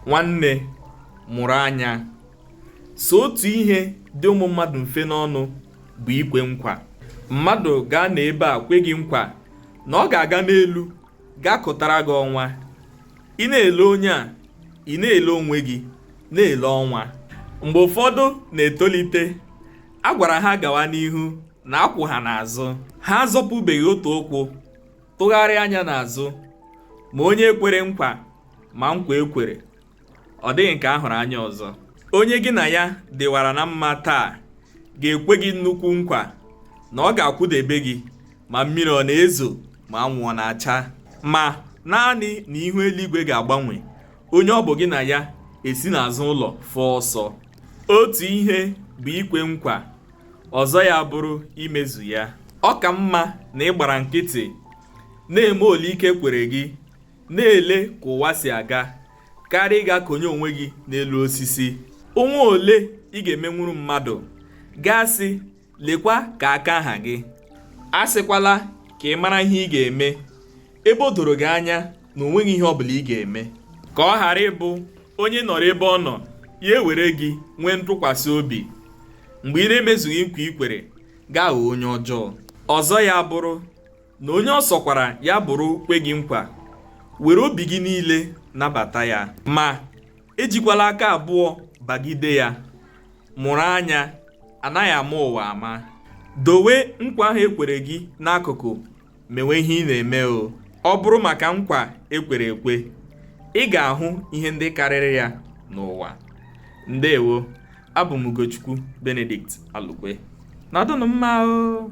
nwanne mụrụ anya so otu ihe dị ụmụ mmadụ mfe n'ọnụ bụ ikwe nkwa mmadụ ga-anọ ebe a kwe gị nkwa na ọ ga-aga n'elu gaa kụtara gị ọnwa ị na-ele onye a ị na-ele onwe gị na-ele ọnwa mgbe ụfọdụ na-etolite a gwara ha gawa n'ihu na a kwụ ha n'azụ ha azọpụbeghị otu ụkwụ tụgharịa anya n'azụ ma onye kwere nkwa ma nkwa e kwere ọ dịghị nke a hụrụ anya ọzọ onye gị na ya dịwara na mma taa ga-ekwe gị nnukwu nkwa na ọ ga-akwụdebe gị ma mmiri ọ na-ezo ma anwụ ọ na-acha ma naanị na ihu eluigwe ga-agbanwe onye ọ bụ gị na ya esi n'azụ ụlọ fụọ ọsọ otu ihe bụ ikwe nkwa ọzọ ya bụrụ imezu ya ọ ka mma na ị gbara nkịtị na-eme ole ike kwere gị na-ele ka ụwa si aga karịa ịga konye onwe gị n'elu osisi o nwee ole ị ga-emenwuru mmadụ gị asị lekwa ka aka ha gị asịkwala ka ị mara ihe ị ga-eme ebe o doro gị anya na o nweghị ihe ọ bụla ị ga-eme ka ọ ghara ịbụ onye nọrọ ebe ọ nọ ya ewere gị nwee ntụkwasị obi mgbe ị na-emezughị nkwa i kwere gị aghọọ onye ọjọọ ọzọ ya bụrụ na onye ọ sọkwara ya bụrụ kwe gị nkwa were obi gị niile nabata ya ma Ejikwala aka abụọ bagide ya. Mụrụ anya, a naghị ama ụwa ama. Dowe nkwa ahụ e kwere gị n'akụkụ mewe ihe ị na-eme o. Ọ bụrụ maka nkwa e kwere ekwe, ị ga-ahụ ihe ndị karịrị ya n'ụwa. Ndewo. Abụ m Ugochukwu Benedict Alukwe. Nọdụnụ mma o!